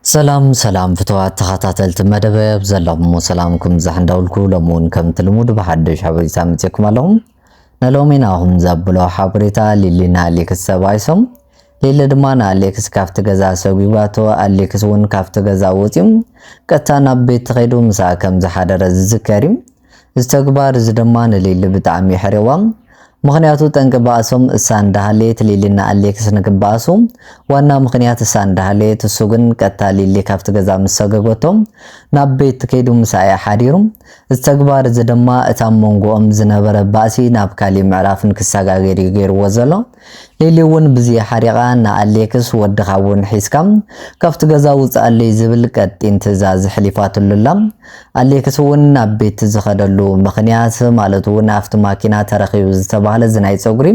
ሰላም ሰላም ፍትዋት ተኻታተልቲ መደበ ኣብ ዘለኹሞ ሰላምኩም ይብዛሕ እንዳበልኩ ሎሚ እውን ከምቲ ልሙድ ብሓዱሽ ሓበሬታ መጺእኩም ኣለኹ። ንሎሚ ናኹም ዘብሎ ሓበሬታ ሊሊ ንኣሌክስ ተባኢሶም ሊሊ ድማ ንኣሌክስ ካብቲ ገዛ ሰጒጓቶ ኣሌክስ እውን ካብቲ ገዛ ወጺኡ ቀጥታ ናብ ቤት ተኸይዱ ምሳኣ ከም ዝሓደረ ዝዝከር እዩ። እዚ ተግባር እዚ ድማ ንሊሊ ብጣዕሚ የሕርዋ። ምኽንያቱ ጠንቂ ባእሶም እሳ እንዳሃለየት ሊሊ እና ኣሌክስ ንክበኣሱ ዋና ምኽንያት እሳ እንዳሃለየት እሱ ግን ቀጥታ ሊሊ ካብቲ ገዛ ምስ ሰገገቶ ናብ ቤት ከይዱ ምስኣ እዩ ሓዲሩ። እዚ ተግባር እዚ ድማ እቲ ኣብ መንጎኦም ዝነበረ ባእሲ ናብ ካሊእ ምዕራፍ ንክሰጋገር እዩ ገይርዎ ዘሎ። ሊሊ ውን ብዝይ ሓሪቓ ንኣሌክስ ወድኻ ውን ሒዝካ ካብቲ ገዛ ውጽኣለይ ዝብል ቀጢን ትእዛዝ ሕሊፋትሉ ኣላ። ኣሌክስ ውን ናብ ቤት ዝኸደሉ ምኽንያት ማለት ውን ኣፍቲ ማኪና ተረኺቡ ዝተባህለ እዚ ናይ ጸጉሪ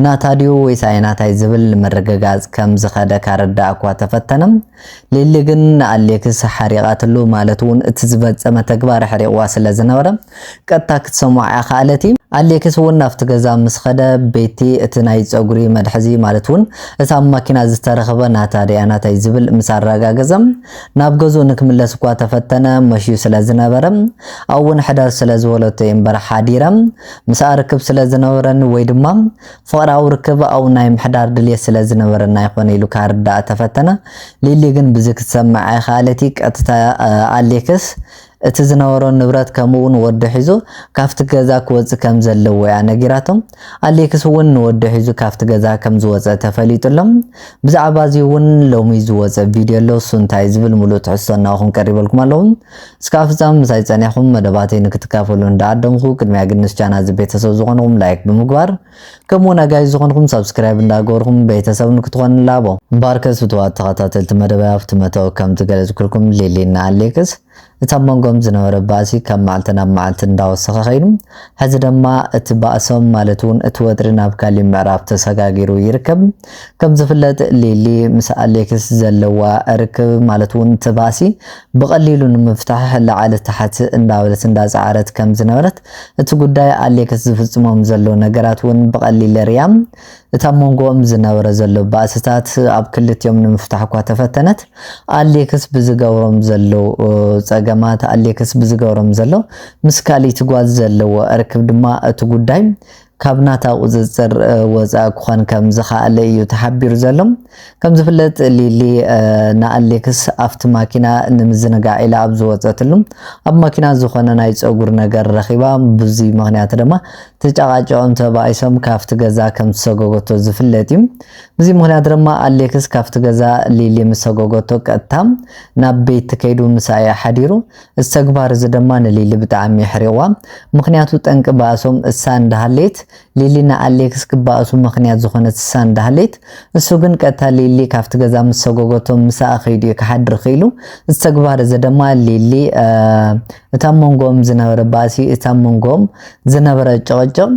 ናታ ድዩ ወይስ ኣይናታይ ዝብል ንምርግጋጽ ከም ዝኸደ ካረዳእ እኳ ተፈተነ ሊሊ ግን ንኣሌክስ ሓሪቓትሉ ማለት ውን እቲ ዝፈጸመ ተግባር ኣሕሪቕዋ ስለ ዝነበረ ቀጥታ ክትሰምዖ ኣይኸኣለቲ። ኣሌክስ ውን ናብቲ ገዛ ምስ ኸደ ቤቲ እቲ ናይ ጸጉሪ መትሓዚ ማለት ውን እቲ ኣብ ማኪና ዝተረኽበ ናታ ድያ ናታይ ዝብል ምስ ኣረጋገጸ ናብ ገዝኡ ንክምለስ እኳ ተፈተነ መሽዩ ስለ ዝነበረ ኣብኡ ውን ሕደር ስለ ዝበለቶ እየ እምበር ሓዲረ ምስኣ ርክብ ስለ ዝነበረኒ ወይ ድማ ፍቕራዊ ርክብ ኣብ ናይ ምሕዳር ድልየት ስለ ዝነበረና ይኾን ኢሉ ካርዳእ ተፈተነ። ሊሊ ግን ብዚ ክትሰምዕ ኣይኸኣለቲ ቀጥታ ኣሌክስ እቲ ዝነበሮ ንብረት ከምኡውን ወዱ ሒዙ ካብቲ ገዛ ክወጽእ ከም ዘለዎ እያ ነጊራቶም። ኣሌክስ እውን ንወዱ ሒዙ ካብቲ ገዛ ከም ዝወጸ ተፈሊጡ ኣሎ። ብዛዕባ እዚ እውን ሎሚ ዝወጸ ቪድዮ ኣሎ እሱ እንታይ ዝብል ምሉእ ትሕዝቶ እናኡ ክንቀሪበልኩም ኣለዉ። እስካብ ፍጻመ ምሳይ ጸኒሕኩም መደባተይ ንክትካፈሉ እንዳ ዓደምኩ ቅድሚያ ግን ምስ ቻና እዚ ቤተሰብ ዝኮንኩም ላይክ ብምግባር ከምኡ ውን ኣጋይሽ ዝኮንኩም ሳብስክራይብ እንዳ ገበርኩም ቤተሰብ ንክትኮኑ ንላቦ። እምበኣርከስ ፍትዋት ተኸታተልቲ መደበይ ኣብቲ መእተዊ ከም ዝገለጽኩልኩም ሊሊ ን ኣሌክስ እቲ ኣብ መንጎኦም ዝነበረ ባእሲ ካብ መዓልቲ ናብ መዓልቲ እንዳ ወሰኸ ከይዱ ሕዚ ደማ እቲ ባእሶም ማለት ውን እቲ ወጥሪ ናብ ካሊእ ምዕራፍ ተሰጋጊሩ ይርከብ። ከም ዝፍለጥ ሊሊ ምስ ኣሌክስ ዘለዋ ርክብ ማለት እውን እቲ ባእሲ ብቐሊሉ ንምፍታሕ ላዕሊ ታሕቲ እንዳበለት እንዳፀዓረት ከም ዝነበረት እቲ ጉዳይ ኣሌክስ ዝፍፅሞም ዘሎ ነገራት እውን ብቐሊል ሪያ እቲ ኣብ መንጎኦም ዝነበረ ዘሎ ባእስታት ኣብ ክልቲኦም ንምፍታሕ እኳ ተፈተነት ኣሌክስ ብዝገብሮም ዘሎ ፀገማት ኣሌክስ ብዝገብሮም ዘሎ ምስ ካልእቲ ጓል ዘለዎ ርክብ ድማ እቲ ጉዳይ ካብ ናታ ቁፅፅር ወፃኢ ክኾን ከም ዝኸኣለ እዩ ተሓቢሩ ዘሎ። ከም ዝፍለጥ ሊሊ ንኣሌክስ ኣብቲ ማኪና ንምዝንጋዕ ኢላ ኣብ ዝወፀትሉ ኣብ ማኪና ዝኾነ ናይ ፀጉር ነገር ረኺባ ብዙይ ምክንያት ድማ ተጫቃጨኦም ተባኢሶም ካብቲ ገዛ ከም ዝሰጎጎቶ ዝፍለጥ እዩ። ብዙይ ምክንያት ድማ ኣሌክስ ካብቲ ገዛ ሊሊ ምሰጎጎቶ ቀጥታ ናብ ቤት ከይዱ ምሳኣ እዩ ሓዲሩ። እዚ ተግባር እዚ ደማ ንሊሊ ብጣዕሚ የሕሪቕዋ ምኽንያቱ ጠንቂ ባእሶም እሳ እንዳሃለየት ሊሊ ንኣሌክስ ክባኣሱ ምኽንያት ዝኾነት እሳ እንዳሃለየት እሱ ግን ቀጥታ ሊሊ ካብቲ ገዛ ምስ ሰጎጎቶም ምሳኣ ከይዱ እዩ ክሓድር ኽኢሉ እዚ ተግባር እዚ ደማ ሊሊ እታ ኣብ መንጎኦም ዝነበረ ባእሲ እታ ኣብ መንጎኦም ዝነበረ ጭቕጭቕ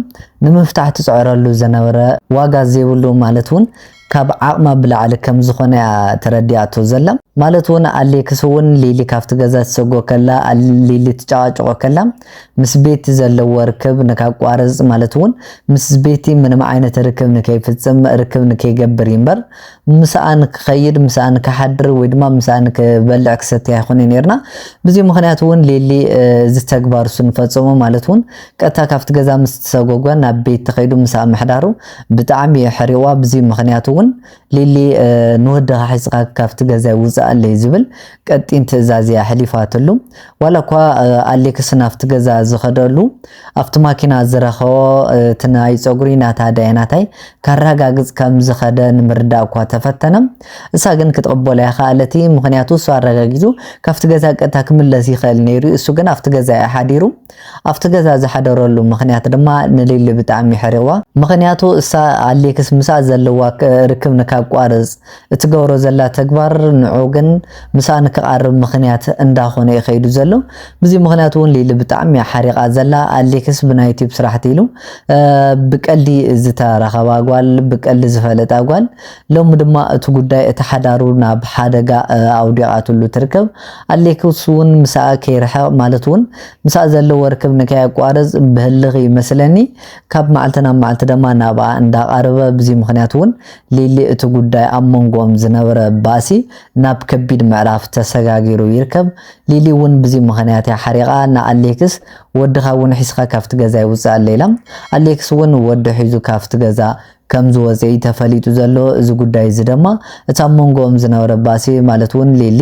ንምፍታሕ ትፅዕረሉ ዝነበረ ዋጋ ዘይብሉ ማለት እውን ካብ ዓቕማ ብላዕሊ ከም ዝኾነ እያ ተረዲኣቶ ዘላ። ማለት ውን ኣሌክስ ውን ሊሊ ካብቲ ገዛ ትሰጎ ከላ፣ ሊሊ ትጨቓጭቖ ከላ ምስ ቤቲ ዘለዎ ርክብ ንካቋርጽ ማለት ውን ምስ ቤቲ ምንም ዓይነት ርክብ ንከይፍጽም ርክብ ንከይገብር ይምበር ምሳኣ ንክኸይድ ምሳኣ ንክሓድር ወይ ድማ ምሳኣ ንክበልዕ ክሰትይ ኣይኾነይ ኔርና ብዚ ምኽንያት ውን ሊሊ እዚ ተግባር እሱ ንፈጸሞ ማለት ውን ቀጥታ ካብቲ ገዛ ምስ ትሰጎጓ ናብ ቤቲ ከይዱ ምሳኣ ምሕዳሩ ብጣዕሚ እየ ሕሪዋ ብዚ ምክንያት እውን ሊሊ ንወድካ ሒዝካ ካብቲ ገዛይ ውፃኣለይ ዝብል ቀጢን ትእዛዝ እያ ሕሊፋትሉ ዋላ እኳ ኣሌክስ ናብቲ ገዛ ዝከደሉ ኣብቲ ማኪና ዝረከቦ እቲ ናይ ፀጉሪ ናታ ዳይናታይ ካራጋግፅ ከም ዝከደ ንምርዳእ እኳ ተፈተነ እሳ ግን ክትቅበሎ ኣይከኣለቲ ምክንያቱ እሱ ኣረጋጊፁ ካብቲ ገዛ ቀጥታ ክምለስ ይክእል ነይሩ እሱ ግን ኣብቲ ገዛ እዩ ሓዲሩ ኣብቲ ገዛ ዝሓደረሉ ምኽንያት ድማ ንሊሊ ብጣዕሚ የሕሪቕዋ። ምኽንያቱ እሳ ኣሌክስ ምስኣ ዘለዋ ርክብ ንካቋርጽ እትገብሮ ዘላ ተግባር ንዑ ግን ምስኣ ንክቓርብ ምኽንያት እንዳ ኾነ እዩ ከይዱ ዘሎ። ብዚ ምኽንያት እውን ሊሊ ብጣዕሚ እያ ሓሪቓ ዘላ። ኣሌክስ ብናይ ዩቲዩብ ስራሕቲ ኢሉ ብቀልዲ ዝተራኸባ ጓል ብቀልዲ ዝፈለጣ ጓል ሎሚ ድማ እቲ ጉዳይ እቲ ሓዳሩ ናብ ሓደጋ ኣውዲቓትሉ ትርከብ። ኣሌክስ'ውን ምስኣ ከይርሕቕ ማለት'ውን ምስኣ ዘለዎ ርክብ ንከየቋርጽ ብህልኽ እዩ መስለኒ ካብ መዓልቲ ናብ መዓልቲ ደማ ናብኣ እንዳቓረበ ብዚ ምኽንያት'ውን ሊሊ እቲ ጉዳይ ኣብ መንጎኦም ዝነበረ ባእሲ ናብ ከቢድ ምዕራፍ ተሰጋጊሩ ይርከብ። ሊሊ'ውን ብዚ ምኽንያት'ያ ሓሪቓ ንኣሌክስ ወድኻ'ውን ሒዝካ ካብቲ ገዛይ ውጽኣለይ ኢላ። ኣሌክስ'ውን ወዱ ሒዙ ካብቲ ገዛ ከም ዝወጽኤ'ዩ ተፈሊጡ ዘሎ፣ እዚ ጉዳይ እዚ ደማ እቲ ኣብ መንጎኦም ዝነበረ ባሲ ማለት ውን ሊሊ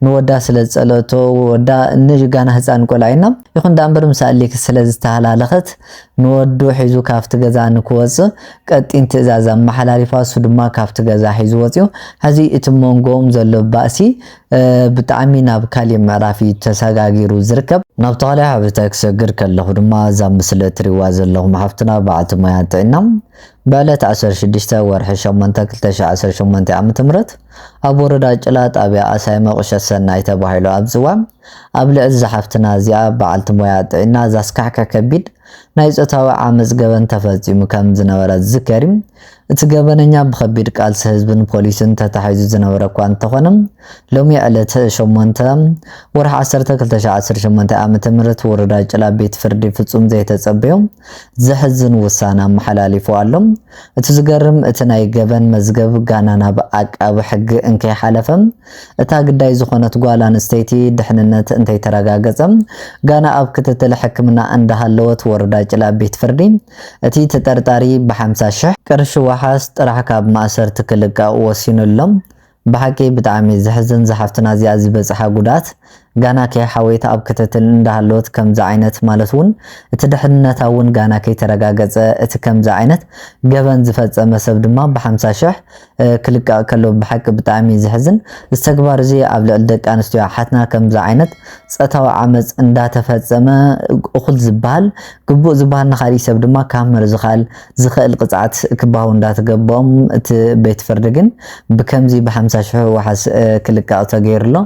ንወዳ ስለ ዝጸለእቶ ወዳ ን ጋና ህጻን ቆልዓ ዩና ይኹን ድኣምበር ምስ ኣሌክስ ስለ ዝተሃላለኸት ንወዱ ሒዙ ካብቲ ገዛ ንክወጽእ ቀጢን ትእዛዝ ኣመሓላሊፋ እሱ ድማ ካብቲ ገዛ ሒዙ ወጽዩ ሐዚ እቲ መንጎኦም ዘሎ ባእሲ ብጣዕሚ ናብ ካሊእ ምዕራፍ እዩ ተሰጋጊሩ ዝርከብ። ናብቲ ካሊእ ሓበሬታ ክሰግር ከለኹ ድማ እዛ ምስሊ እትሪእዋ ዘለኹም ሓፍትና በዓልቲ ሞያ ጥዒና ብዕለት ዓሰርተ ሽዱሽተ ወርሒ ሸሞንተ ክልተ ሽሕ ዓሰርተ ሸሞንተ ዓመተ ምህረት ኣብ ወረዳ ጭላ ጣብያ ኣሳይመ ቁሸት ሰናይ ተባሂሉ ኣብ ዝፅዋዕ ኣብ ልዕሊ እዛ ሓፍትና እዚኣ በዓልቲ ሞያ ጥዒና ዘስካሕክሕ ከቢድ ናይ ፆታዊ ዓመፅ ገበን ተፈፂሙ ከም ዝነበረ ዝዝከር እዩ። እቲ ገበነኛ ብኸቢድ ቃልሲ ህዝብን ፖሊስን ተታሒዙ ዝነበረ እኳ እንተኾነ፣ ሎሚ ዕለት ሸሞንተ፣ ወርሒ ዓሰርተ ክልተ ሽሕ ዓሰርተ ሸሞንተ ዓመተ ምህረት ወረዳ ጭላ ቤት ፍርዲ ፍጹም ዘይተጸበዮ ዘሕዝን ውሳነ ኣመሓላሊፉ ኣሎ። እቲ ዝገርም እቲ ናይ ገበን መዝገብ ጋና ናብ ዓቃቢ ሕጊ እንከይሓለፈ፣ እታ ግዳይ ዝኾነት ጓል ኣንስተይቲ ድሕንነት እንተይተረጋገጸ ጋና ኣብ ክትትል ሕክምና እንዳሃለወት ወረዳ ጭላ ቤት ፍርዲ እቲ ተጠርጣሪ ብ ሓምሳ ሽሕ ቅርሺ ዋሓስ ጥራሕ ካብ ማእሰርቲ ክልቀቅ ወሲኑ ኣሎ። ብሓቂ ብጣዕሚ ዘሕዝን ዝሓፍትና እዚኣ ዝበጽሓ ጉድኣት ጋና ከይሓወየት ኣብ ክትትል እንዳሃለወት ከምዚ ዓይነት ማለት ውን እቲ ድሕንነታ ውን ጋና ከይተረጋገጸ እቲ ከምዚ ዓይነት ገበን ዝፈጸመ ሰብ ድማ ብ ሓምሳ ሽሕ ክልቀቅ ከሎ ብሓቂ ብጣዕሚ እዩ ዘሕዝን እዚ ተግባር እዚ ኣብ ልዕሊ ደቂ ኣንስትዮ ኣሓትና ከምዚ ዓይነት ጸታዊ ዓመጽ እንዳተፈጸመ እኹል ዝበሃል ግቡእ ዝበሃል ንኻልእ ሰብ ድማ ካብ ምርዝኻል ዝኽእል ቅጽዓት ክባሃው እንዳተገበኦም እቲ ቤት ፍርዲ ግን ብከምዚ ብሓምሳ ሽሑ ዋሕስ ክልቀቅ ተገይሩ ኣሎ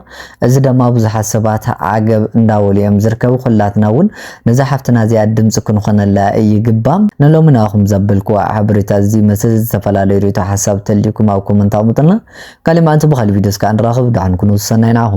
እዚ ደማ ብዙሓት ሰባት ዓገብ እንዳበሉ እዮም ዝርከቡ ኩላትና ውን ነዛ ሓፍትና እዚኣ ድምጺ ክንኾነላ ይግባ ንሎሚ ንኣኹም ዘብልኩዋ ሓበሬታ እዚ ይመስል ዝተፈላለዩ ሪኢቶ ሓሳብ ተልዩኩም ኣብ ኮመንት ኣቅምጡልና ካሊእ ምኣንቲ ብካሊእ ቪድዮ እስካዕ ንራኽብ ዳሓን ኩኑ ሰናይ ንዓኹም።